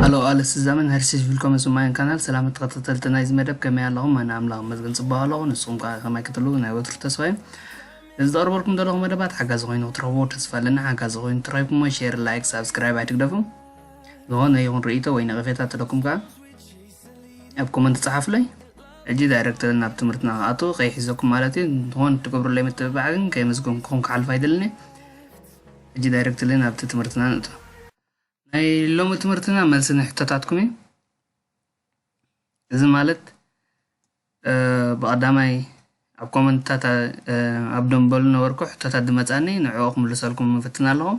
ሃሎ ኣለስ ዘመን ሄርሲስ ቪልኮም ስማይን ካናል ሰላም ተኸታተልቲ ናይዚ መደብ ከመይ ኣለኹም ኣነ ኣምላኽ መዝግን ፅቡቅ ኣለኹ ንስኹም ከዓ ከማይ ክትሉ ናይ ወትሩ ተስፋ እዩ እዚ ዘቕርበልኩም ዘለኹ መደባት ሓጋዚ ኮይኑ ክትረኽቡ ተስፋ ኣለና ሓጋዚ ኮይኑ ትረኪብኩሞ ሼር ላይክ ሳብስክራይብ ኣይትግደፉ ዝኾነ ይኹን ርእይቶ ወይ ነቐፌታ ተለኩም ከዓ ኣብ ኮመንት ጸሓፉለይ ሕጂ ዳይረክተር ናብ ትምህርትና ክኣቱ ከይሕዘኩም ማለት እዩ ንኾን ትገብሩለይ ምትብባዕ ግን ከየመስገንኩኹም ክሓልፍ ኣይደልን እዩ ሕጂ ዳይረክተር ናብቲ ትምህርትና ንእቶ ናይ ሎሚ ትምህርትና መልሲ ንሕቶታትኩም እዩ እዚ ማለት ብቐዳማይ ኣብ ኮመንትታት ኣብ ደንበሉ ነበርኩ ሕቶታት ድመፃኒ ንዕኦ ክምልሰልኩም ምፍትና ኣለኹም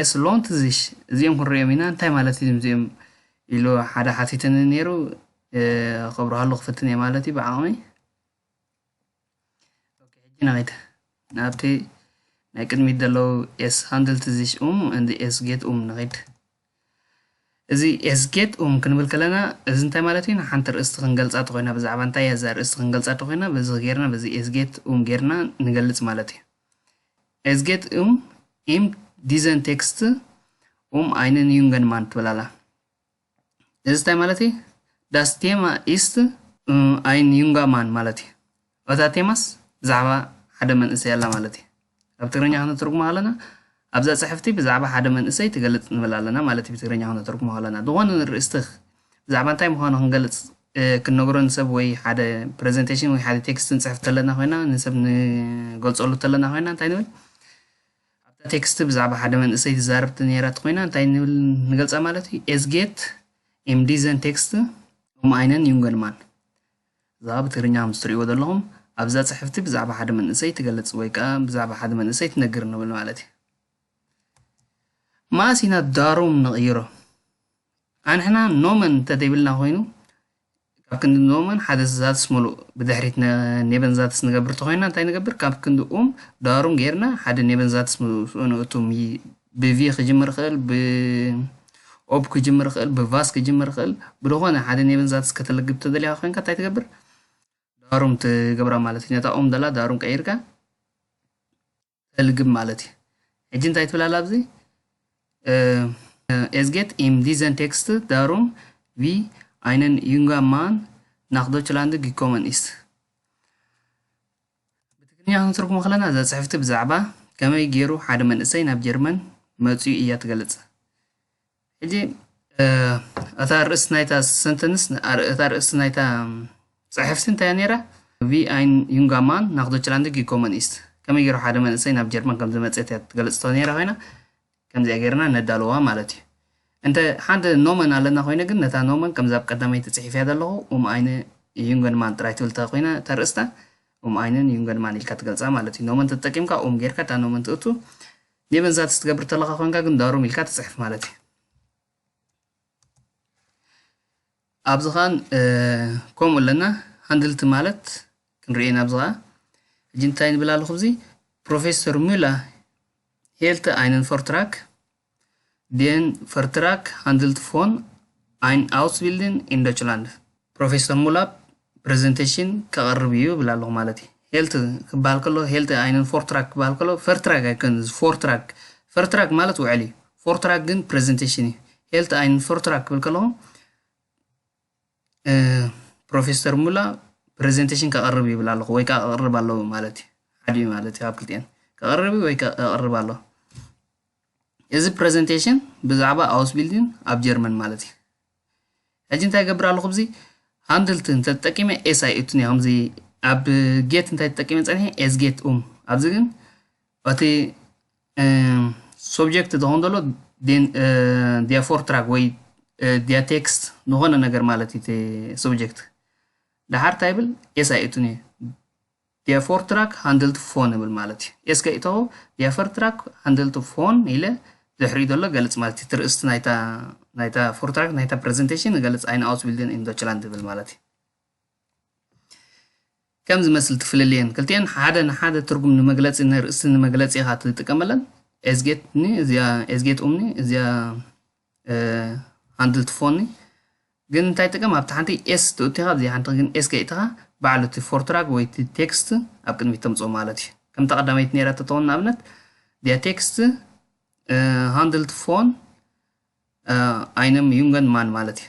ኤስ ሎንት ዚሽ እዚኦም ክንሪኦም ኢና እንታይ ማለት እዩ እዚኦም ኢሉ ሓደ ሓቲትኒ ነይሩ ከብርሃሉ ክፍትን እየ ማለት እዩ ብዓቕሚ ሕጂ ናይት ናብቲ ናይ ቅድሚት ዘለዉ ኤስ ሃንድልት ዚሽ ኡም እንዲ ኤስ ጌት ኡም ንኺድ እዚ ኤስጌት ኡም ክንብል ከለና እዚ እንታይ ማለት እዩ ንሓንቲ ርእስቲ ክንገልጻ ተኾይና ብዛዕባ እንታይ እያ እዛ ርእስቲ ክንገልጻ ተኾይና በዚ ጌርና በዚ ኤስጌት ኡም ጌርና ንገልጽ ማለት እዩ ኤስጌት ኡም ኢም ዲዘን ቴክስት ኡም ኣይንን ዩንገን ማን ትብል ኣላ እዚ እንታይ ማለት እዩ ዳስ ቴማ ኢስት ኣይን ዩንጋ ማን ማለት እዩ ኣብዛ ቴማስ ብዛዕባ ሓደ መንእሰይ ኣላ ማለት እዩ። ካብ ትግርኛ ክነተርጉሞ ከለና ኣብዛ ጽሕፍቲ ብዛዕባ ሓደ መንእሰይ ትገልጽ ንብል ኣለና ማለት እዩ ብትግርኛ ክነተርጉሞ ከለና ዝኾነ ንርእስትኽ ብዛዕባ እንታይ ምዃኑ ክንገልጽ ክንነግሮ ንሰብ ወይ ሓደ ፕሬዘንቴሽን ወይ ሓደ ቴክስት ንጽሕፍ ተለና ኮይና ንሰብ ንገልጸሉ ተለና ኮይና እንታይ ንብል ኣብታ ቴክስቲ ብዛዕባ ሓደ መንእሰይ ትዛረብቲ ነይራት ኮይና እንታይ ንብል ንገልጻ ማለት እዩ ኤዝጌት ኤምዲዘን ቴክስት ኦም ኣይነን ዩንገልማን እዛ ብትግርኛ ምስ ትርእይዎ ዘለኹም ኣብዛ ጽሕፍቲ ብዛዕባ ሓደ መንእሰይ ትገልጽ ወይ ከኣ ብዛዕባ ሓደ መንእሰይ ትነግር ንብል ማለት እዩ። ማእስ ኢና ዳሩም ንቕይሮ ኣንሕና ኖመን እንተደይብልና ኮይኑ ካብ ክንዲ ኖመን ሓደ ዛትስ ምሉእ ብድሕሪት ኔበን ዛትስ ንገብር ተኾይና እንታይ ንገብር ካብ ክንዲ ኡም ዳሩም ጌርና ሓደ ኔበን ዛትስ ምስኡ ንእቱ ብቪ ክጅምር ይኽእል፣ ብኦብ ክጅምር ይኽእል፣ ብቫስ ክጅምር ይኽእል። ብዝኾነ ሓደ ኔብን ዛትስ ከተልግብ ተደሊኻ ኮይንካ እንታይ ትገብር? ዳሩም ትገብራ ማለት እዩ። ነታ ኦም ደላ ዳሩም ቀይርካ ተልግብ ማለት እዩ። ሕጂ እንታይ ትብል ኣላ ኣብዚ ኤዝጌት ኢም ዲዘን ቴክስት ዳሩም ቪ ኣይነን ዩንጋ ማን ናኽ ዶችላንድ ጊኮመን ኢስ ብትግርኛ ክንትርጉሞ ከለና እዛ ጽሕፍቲ ብዛዕባ ከመይ ገይሩ ሓደ መንእሰይ ናብ ጀርመን መጺኡ እያ ትገልጽ ሕጂ እታ ርእስቲ ናይታ ሰንተንስ እታ ርእስቲ ናይታ ጽሕፍቲ እንታይ ነይራ ቪ ኣይን ዩንጋማን ናክ ዶችላንድ ጊኮመን ኢስት ከመይ ገይሩ ሓደ መንእሰይ ናብ ጀርመን ከም ዝመፀት እያ ትገልፅ ነይራ ኮይና ከምዚኣ ጌርና ነዳልዋ ማለት እዩ። እንተ ሓንቲ ኖመን ኣለና ኮይነ ግን ነታ ኖመን ከምዛ ኣብ ቀዳመይቲ ጽሒፈያ ዘለኹ ኡም ኣይነ ዩንገንማን ጥራይ ትብል እንተ ኮይና እታ ኣርእስታ ኡም ኣይነን ዩንገንማን ኢልካ ትገልጻ ማለት እዩ። ኖመን ተጠቂምካ ኡም ጌርካ እታ ኖመን ትእቱ ኔቨንዛትስ ትገብር ተለኻ ኮንካ ግን ዳሩም ኢልካ ትጽሕፍ ማለት እዩ። ኣብዚ ከኣ ን ከምኡ ኣለና ሃንድልቲ ማለት ክንርእይ ኢና ኣብዚ ከኣ ሕጂ እንታይ ንብል ኣለኹ ኣብዚ ፕሮፌሰር ሙላ ሄልተ ኣይነን ፈርትራክ Den Vertrag handelt von Ein Ausbilden in Deutschland። ፕሮፌሰር ሙላፕ ፕረዘንተሽን ከቕርብ እዩ እብል ኣለኹ ማለት እዩ ሄልት ክበሃል ከሎ ሄልት ኣይንን ፎርትራክ ክበሃል ከሎ ፈርትራክ ኣይኮን እዚ ፎርትራክ ፈርትራክ ማለት ውዕል እዩ ፎርትራክ ግን ፕረዘንተሽን እዩ ሄልት ኣይንን ፈርትራክ ክብል ከለኹ ፕሮፌሰር ሙላ ፕረዘንተሽን ከቕርብ ይብል ኣለኹ ወይ ከዓ ከቕርብ ኣለዎ ማለት እዩ ሓደ እዩ ማለት እዩ ኣብ ክልቲኤን ከቕርብ እዩ ወይ ከቕርብ ኣለዎ እዚ ፕረዘንቴሽን ብዛዕባ ኣውስ ቢልዲን ኣብ ጀርመን ማለት እዩ ሕጂ እንታይ ይገብር ኣለኹ ብዚ ሃንድልት እንተ ተጠቂመ ኤስ ኣይ እቱን እዮም እዚ ኣብ ጌት እንታይ ተጠቂመ ጸኒሐ ኤስ ጌት ኡም ኣብዚ ግን እቲ ሶብጀክት ዝኾን ዘሎ ዲያፎር ትራክ ወይ ዲያ ቴክስት ዝኾነ ነገር ማለት እዩ እቲ ሶብጀክት ደሓር እንታይ ይብል ኤስ ኣይ እቱን እዩ ዲያ ፎርትራክ ሃንድልት ፎን እብል ማለት እዩ። ኤስከ እቶ ዲያ ፈርትራክ ሃንድልት ፎን ኢለ ድሕሪኡ ዘሎ ገልጽ ማለት እዩ። እቲ ርእስቲ ናይታ ናይታ ፎርትራክ ናይታ ፕረዘንተሽን ገልጽ ኣይነ ኣውስቢልድን ኢን ዶችላንድ እብል ማለት እዩ። ከም ዝመስል ትፍልልየን ክልቲኤን ሓደ ንሓደ ትርጉም ንመግለጺ ንርእስቲ ንመግለጺ ኢኻ ትጥቀመለን። ኤስጌት ኒ እዚኣ ኤስጌት ኡምኒ እዚኣ ሃንድል ትፎኒ ግን እንታይ ጥቅም ኣብቲ ሓንቲ ኤስ ትእትኻ ኣብዚ ሓንቲ ግን ኤስ ከይእትኻ ባዕሉ እቲ ፎርትራግ ወይ እቲ ቴክስት ኣብ ቅድሚት ተምፅኦ ማለት እዩ ከምታ ቀዳመይቲ ነራ ተተውን ንኣብነት ዲያ ቴክስት ሃንድልት ፎን ኣይነም ዩንገን ማን ማለት እዩ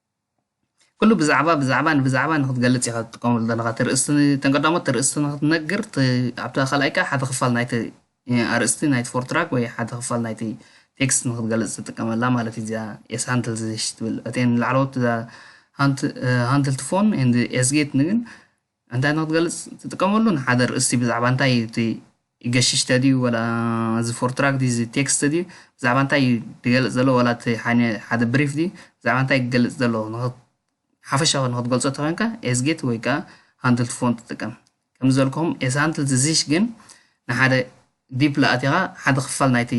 ኩሉ ብዛዕባ ብዛዕባ ንብዛዕባ ንክትገልጽ ኢኻ ትጥቀመሉ ዘለኻ እተን ቀዳሞት ተርእስቲ ንክትነግር ኣብታ ካልኣይ ከዓ ሓደ ክፋል ናይቲ ኣርእስቲ ናይቲ ፎርትራክ ወይ ሓደ ክፋል ናይቲ ቴክስት ንክትገልጽ ትጥቀመላ ማለት እዩ እዚኣ ኤስ ሃንትል ዝሽ ትብል እተን ላዕለዎት ሃንትል ትፎን ኤንድ ኤስጌት ንግን እንታይ ንክትገልጽ ትጥቀመሉ ንሓደ ርእስቲ ብዛዕባ እንታይ እዩ እቲ ገሽሽተ ድዩ ወላ እዚ ፎርትራክ ድዩ እዚ ቴክስት ድዩ ብዛዕባ እንታይ እዩ ዝገልጽ ዘሎ ወላ እቲ ሓደ ብሪፍ ድዩ ብዛዕባ እንታይ ክገልጽ ዘሎ ሓፈሻዊ ንክትገልጾ ተኮይንካ ኤስጌት ወይ ከዓ ሃንድልት ፎን ትጥቀም ከም ዘልኩም ኤስ ሃንድልት እዚሽ ግን ንሓደ ዲፕ ለኣቲኻ ሓደ ክፋል ናይቲ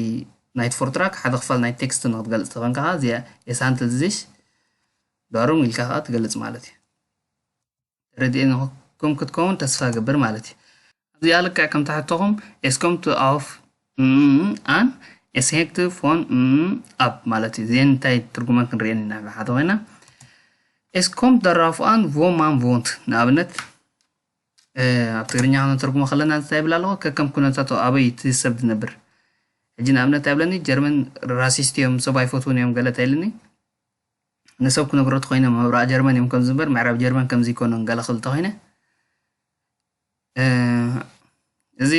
ናይቲ ፎርትራክ ሓደ ክፋል ናይ ቴክስት ንክትገልጽ ተኮይንካ ከዓ እዚኣ ኤስ ሃንድልት እዚሽ ዳሩም ኢልካ ከዓ ትገልጽ ማለት እዩ ተረዲኤኩም ክትከውን ተስፋ እገብር ማለት እዩ ኣብዚኣ ልክዕ ከም ትሕቶኹም ኤስኮም ቱ ኣፍ ኣን ኤስሄክት ፎን ኣብ ማለት እዩ እዚአን እንታይ ትርጉመን ክንሪኤን ኢና ብሓደ ኮይና ኤስኮም ደራፍኣን ቮማን ቮንት ንኣብነት ኣብ ትግርኛ ክንተርጉሞ ከለና እንታይ ይብል ኣለኹ ከከም ኩነታቱ ኣበይ እቲ ሰብ ዝነብር ሕጂ ንኣብነት ኣይብለኒ ጀርመን ራሲስት እዮም ሰብ ኣይፈትውን እዮም ገለ ተይልኒ ንሰብ ክነግሮ ተኾይነ ምብራቅ ጀርመን እዮም ከምዚ እምበር ምዕራብ ጀርመን ከምዚ ይኮኑን ገለ ክብል ተኾይነ እዚ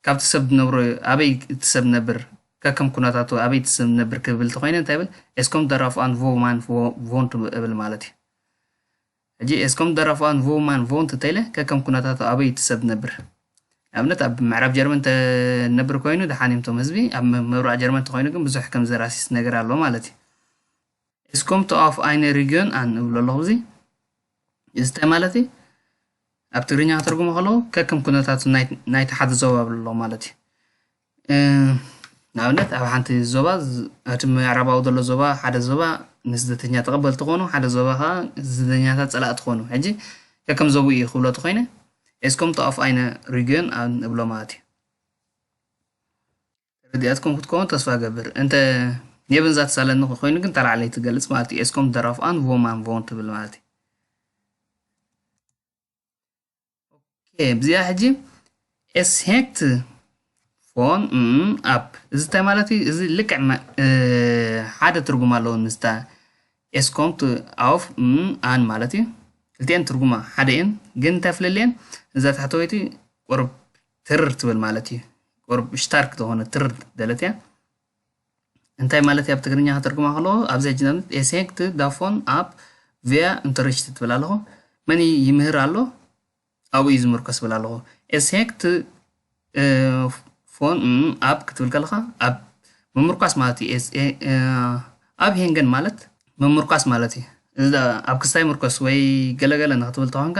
ካብቲ ሰብ ዝነብሮ ኣበይ እቲ ሰብ ነብር ከከም ኩነታቱ ኣበይ እቲ ሰብ ነብር ክብል ተኾይነ እንታይ ብል ኤስኮም ደራፍ ኣን ቮማን ቮንት እብል ማለት እዩ ሕጂ ኤስኮም ደራፉኣን ቮውማን ቮውንት እንተኢለ ከከም ኩነታቱ ኣበይ እቲ ሰብ ዝነብር ንኣብነት ኣብ ምዕራብ ጀርመን ተነብር ኮይኑ ደሓን እዮም ቶም ህዝቢ ኣብ ምብራቅ ጀርመን ተኮይኑ ግን ብዙሕ ከምዚ ራሲስት ነገር ኣሎ ማለት እዩ Es kommt auf eine Region an እብሎ ኣለኹ እዚ እዚ እንታይ ማለት እዩ ኣብ ትግርኛ ከተርጉሞ ከለዉ ከከም ኩነታቱ ናይቲ ሓደ ዞባ ብሎ ማለት እዩ ንኣብነት ኣብ ሓንቲ ዞባ እቲ ምዕራባዊ ዘሎ ዞባ ሓደ ዞባ ንስደተኛ ተቐበልቲ ክኾኑ ሓደ ዞባ ከዓ ስደተኛታት ፀላእቲ ክኾኑ ሕጂ ከከም ዞብኡ እዩ ክብሎ ተኾይነ Es kommt auf eine Region an ንብሎ ማለት እዩ ተረዲኣትኩም ክትከውን ተስፋ ገብር እንተ የብን ዛተሳለኒ ኮይኑ ግን ተላዕለይ ትገልጽ ማለት እዩ Es kommt darauf an wo man wohnt ትብል ማለት እዩ እዚኣ ሕጂ ኤስሄክት ፎን ኣፕ እዚ እንታይ ማለት እዩ እዚ ልክዕ መ- እ፣ ሓደ ትርጉም ኣለዎ ምስታ ኤስኮምት ኣፍ ኣን ማለት እዩ ክልቲኤን ትርጉማ ሓደ እየን ግን እንታይ ፍለልየን እዛ ታሕተወይቲ ቁርብ ትርር ትብል ማለት እዩ ቁርብ ሽታርክ ዝኾነ ትርር ደለት እያ እንታይ ማለት እያ ብትግርኛ ከተርጉማ ከለዎ ኣብዚ ሕጂ ንኣብነት ኤሴንክት ዳፎን ኣብ ቪያ እንተርሽት ትብል ኣለኹ መን ይምህር ኣሎ ኣብኡ እዩ ዝምርኮስ ብል ኣለኹ ኤሴንክት ፎን ኣብ ክትብል ከለኻ ኣብ ምምርኳስ ማለት እዩ ኣብ ሄንገን ማለት ምምርኳስ ማለት እዩ ኣብ ክስታይ ምርኮስ ወይ ገለገለ ንክትብል ተኾንካ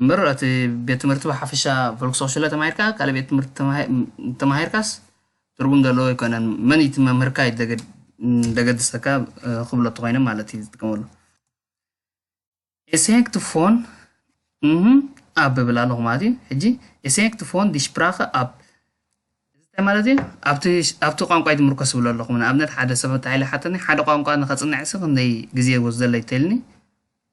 እምበር እቲ ቤት ትምህርቲ ብሓፈሻ ቮልክስሆሽለ ተማሂርካ ካልእ ቤት ትምህርቲ ተማሂ- እንተማሂርካስ ትርጉም ዘለዎ ኣይኮነን መን እቲ መምህርካ እዩ ደገድ- ደገድሰካ እ፣ ክብሎ እንተኾይነ ማለት እዩ ዝጥቀመሉ ኤስሄክት ፎን እህ ኣብ ብል ኣለኹ ማለት እዩ ሕጂ ኤስሄክት ፎን ዲሽፕራኸ ኣብ እንታይ ማለት እዩ ኣብቲ ኣብቲ ቋንቋ እዩ ዝምርኮስ ዝብሎ ኣለኹ ንኣብነት ሓደ ሰብ እንታይ ኢለ ሓተኒ ሓደ ቋንቋ ንኸፅንዕሲ ክንደይ ግዜ ይወስደለይ ተልኒ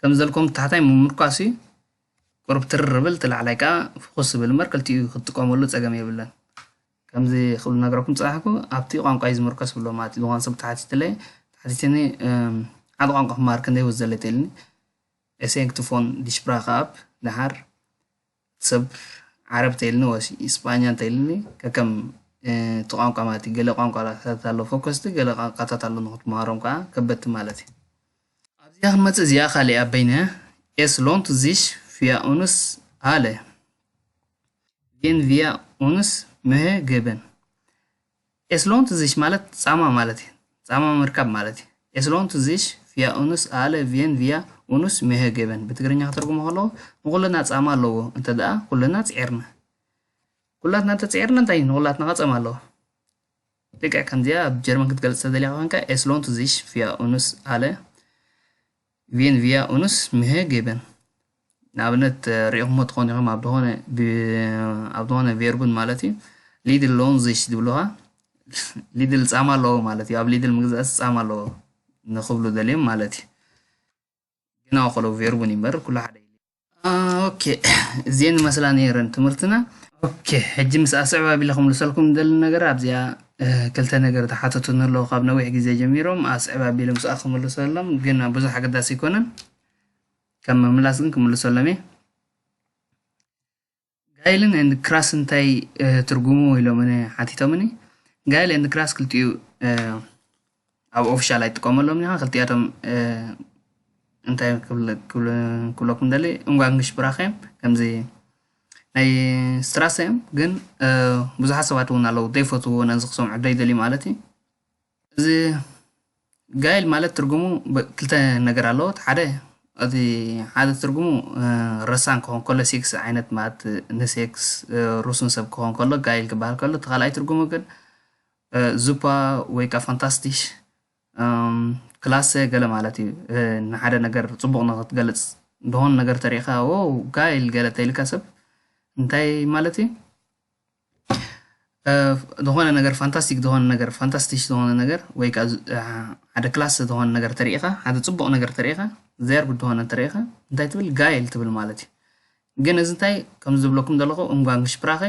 ከም ዘልኩም ታሕታይ ምምርኳስ እዩ ቁርብ ትርር ብል እቲ ላዕላይ ከዓ ፍኹስ ዝብል እምበር ክልቲኡ ክትጥቀመሉ ፀገም የብለን ከምዚ ክብል ነገረኩም ፀናሕኩ ኣብቲ ቋንቋ እዩ ዝምርኮስ ብሎ ማለት እዩ ዝኾነ ሰብ ተሓቲትለይ ተሓቲትኒ ሓደ ቋንቋ ክመሃር ክንደይ ወዝ ዘለተልኒ ኤሴንክ ትፎን ዲሽፕራ ከኣብ ደሓር ሰብ ዓረብ እንተይልኒ ወሲ ስጳኛ እንተይልኒ ከከም እቲ ቋንቋ ማለት እዩ ገለ ቋንቋታት ኣሎ ፎከስቲ ገለ ቋንቋታት ኣሎ ንክትመሃሮም ከዓ ከበድቲ ማለት እዩ ኣብዚኣ ክንመፅእ እዚኣ ካል እያ በይነ ኤስ ሎንት ዚሽ ፊያ ኡንስ ኣለ ጌን ቪያ ኡንስ ምህግብን Es lohnt sich ማለት ጻማ ማለት እዩ። ጻማ ምርካብ ማለት እዩ። Es lohnt sich für uns alle wenn wir uns Mühe geben ብትግርኛ ከተርጉሞ ከለዉ ንኹልና ጻማ ኣለዎ እንተ ደኣ ኩልና ጽዒርና። ኩላትና እንተ ጽዒርና እንታይ እዩ ንኹላትና ከ ጸማ ኣለዎ። ልክዕ ከምዚኣ ኣብ ጀርመን ክትገልጽ ተደሊኻ ኮንካ Es lohnt sich für uns alle ቪን ቪያ ኡንስ ምሔ ጌበን ንኣብነት ርኢኹሞ ትኾኑ ኢኹም ኣብ ዝኾነ ኣብ ዝኾነ ቬርቡን ማለት እዩ ሊድል ሎን ዝሽ ዝብልኻ ሊድል ጻማ ኣለዎ ማለት እዩ ኣብ ሊድል ምግዛእስ ጻማ ኣለዎ ንኽብሉ ደልዮም ማለት እዩ ግና ከሎ ቬርቡን ይምበር ኩሉ ሓደ ኦኬ እዚኤን መስላ ነይረን ትምህርትና ኦኬ ሕጂ ምስ ኣስዕብ ኣቢለ ክምልሰልኩም ደሊ ነገር ኣብዚኣ ክልተ ነገር ተሓተቱ ንለዉ ካብ ነዊሕ ግዜ ጀሚሮም ኣስዕብ ኣቢለ ምስኣ ክምልሰሎም ግን ብዙሕ ኣገዳሲ ኣይኮነን ከም ምምላስ ግን ክምልሰሎም እየ ጋይልን ኤንድ ክራስ እንታይ ትርጉሙ ኢሎምኒ ሓቲቶምኒ ጋይል ኤንድ ክራስ ክልቲኡ ኣብ ኦፊሻል ኣይጥቀመሎም ኒኻ ክልቲኣቶም እንታይ ክብለኩም ደሊ እንጓንግሽ ብራኸ እዮም ከምዚ ናይ ስትራሰ እዮም ግን ብዙሓት ሰባት እውን ኣለዉ ዘይፈትውዎ ነዚ ክሰምዑ ዘይደልዩ ማለት እዩ እዚ ጋይል ማለት ትርጉሙ ብ- ክልተ ነገር ኣለዎ እቲ ሓደ እቲ ሓደ ትርጉሙ እ፣ ረሳን ክኾን ከሎ ሴክስ ዓይነት ማለት እ፣ ንሴክስ እ፣ ሩሱን ሰብ ክኾን ከሎ ጋይል ክበሃል ከሎ እቲ ካልኣይ ትርጉሙ ግን እ፣ ዙፓ ወይ ከዓ ፋንታስቲሽ እም፣ ክላሰ ገለ ማለት እዩ እ፣ ንሓደ ነገር ፅቡቕ ንክትገልፅ ዝኾነ ነገር ተሪእኻ ዎው ጋይል ገለ ተይልካ ሰብ እንታይ ማለት እዩ ዝኾነ ነገር ፋንታስቲክ ዝኾነ ነገር ፋንታስቲሽ ዝኾነ ነገር ወይ ከዓ ሓደ ክላስ ዝኾነ ነገር ተሪኢኻ ሓደ ፅቡቕ ነገር ተሪኢኻ ዘርቢ ዝኾነ ተሪኢኻ እንታይ ትብል ጋይል ትብል ማለት እዩ ግን እዚ እንታይ ከም ዝብለኩም ዘለኹ እምጓን ሽፕራኸ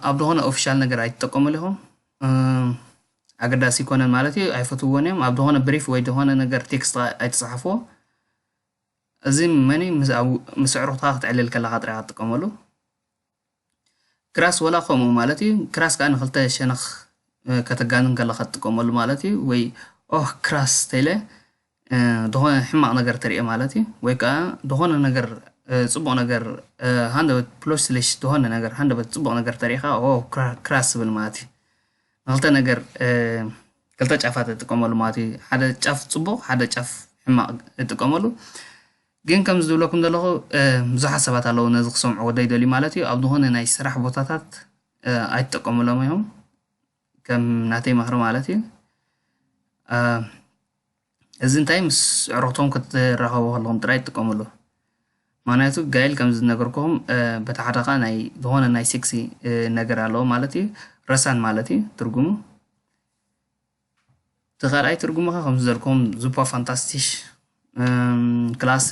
ኣብ ዝኾነ ኦፊሻል ነገር ኣይትጠቀሙሉ ኢኹም ኣገዳሲ ይኮነን ማለት እዩ ኣይፈትውዎን እዮም ኣብ ዝኾነ ብሪፍ ወይ ዝኾነ ነገር ቴክስት ኣይትፅሓፍዎ እዚ መኒ ምስ ኣዕሩኽትኻ ክትዕልል ከለኻ ጥራይ ክትጥቀመሉ ክራስ ወላ ከምኡ ማለት እዩ ክራስ ከዓ ንክልተ ሸነኽ ከተጋንን ከለካ ትጥቀመሉ ማለት እዩ ወይ ኦህ ክራስ ተይለ ዝኾነ ሕማቕ ነገር ተርእየ ማለት እዩ ወይ ከዓ ዝኾነ ነገር ፅቡቕ ነገር ሃንደበት ፕሎስሊሽ ዝኾነ ነገር ሃንደበት ፅቡቕ ነገር ተሪእኻ ኦ ክራስ ዝብል ማለት እዩ ንክልተ ነገር ክልተ ጫፋት እጥቀመሉ ማለት እዩ ሓደ ጫፍ ፅቡቕ ሓደ ጫፍ ሕማቕ እጥቀመሉ ግን ከምዚ ዝብለኩም ዘለኹ ብዙሓት ሰባት ኣለዉ ነዚ ክሰምዕዎ ዘይደልዩ ማለት እዩ ኣብ ዝኾነ ናይ ስራሕ ቦታታት ኣይትጠቀሙሎም እዮም ከም ናተይ ምኽሪ ማለት እዩ እዚ እንታይ ምስ ዕሩኽቶም ክትራኸቡ ከለኹም ጥራይ ትጥቀምሉ ምክንያቱ ጋይል ከም ዝነገርኩም በቲ ሓደ ከዓ ናይ ዝኾነ ናይ ሴክሲ ነገር ኣለዎ ማለት እዩ ረሳን ማለት እዩ ትርጉሙ እቲ ካልኣይ ትርጉሙ ከ ከምዚ ዘልኩም ዙፓ ፋንታስቲሽ ክላሰ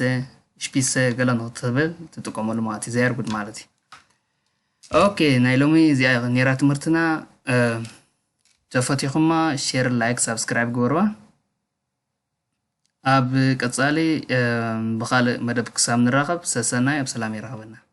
ሽፒሰ ገለ ንክትብል ትጥቀመሉ ማለት እዩ ዘየር ጉድ ማለት እዩ ኦኬ ናይ ሎሚ እዚኣ ነራ ትምህርትና ተፈቲኹማ ሼር ላይክ ሳብስክራይብ ግበርዋ ኣብ ቀፃሊ ብካልእ መደብ ክሳብ ንራኸብ ሰሰናይ ኣብ ሰላም ይራኸበና